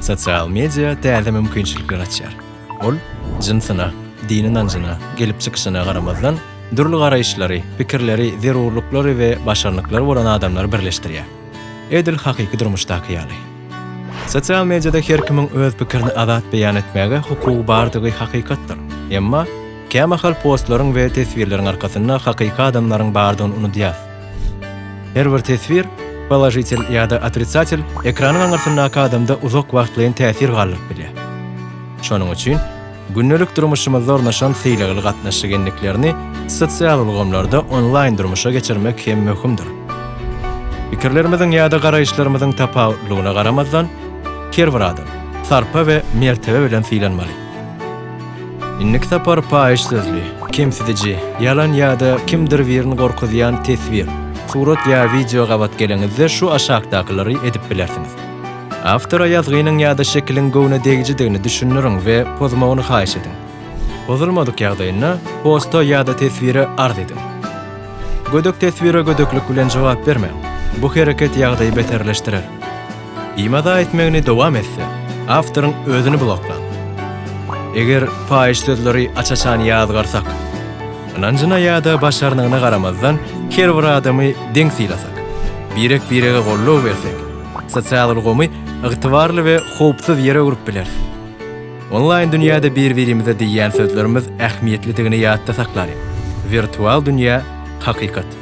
Sosial media täze mümkinçilikler açýar. Ol jynsyna, dini ynanjyna, gelip çykyşyna garamazdan, dürli garaýyşlary, pikirleri, zerurlyklary we başarnyklary bolan adamlary birleşdirýär. Edil hakyky durmuşdaky ýaly. Sosial mediada her kimiň öz pikirini azat beýan etmäge hukugy bardygy hakykatdyr. Emma, kämahal postlaryň we teswirleriň arkasynda hakyky adamlaryň bardygyny unudýarys. Her bir teswir, položitel ýa-da otrisatel, ekranyň aňyrsyndaky adamda uzak wagtlaýyn täsir galdyryp bilýär. Şonuň üçin gündelik durmuşymyzda ornaşan sylagly gatnaşyk endiklerini sosial ulgamlarda onlaýn durmuşa geçirmek hem möhümdir. Pikirlerimiziň ýa-da garaýyşlarymyzyň tapawutlygyna garamazdan, her bir adam sarpa we mertebe bilen sylanmaly. Indiki sapar paýyş sözli, kemsidiji, ýalan ýa-da kimdir birini gorkuzýan teswir, surat ýa wideo gabat geleňizde şu aşakdakylary edip bilersiňiz. Awtora ýazgynyň ýa-da şekiliň göwnedegijidigini düşündiriň we pozmagyny haýyş ediň. Pozulmadyk ýagdaýynda posta ýa-da teswire arz ediň. Gödek teswire gödeklik bilen jogap bermäň. Bu hereket ýagdaýy beterleşdirer. Imada etmegini dowam etse, awtoryň özüni bloklan. Eger paýyş sözleri aç-açan ýazgarsak, ynanjyna ýa-da başarnygyna garamazdan her bir adamy deň sylasak, birek-birege goldaw bersek, sosial ulgamy ygtybarly we howpsuz ýere öwrüp bileris. Onlaýn dünýäde bir-birimize diýýän sözlerimiz ähmiýetlidigini ýatda saklalyň, wirtual dünýä, hakykat.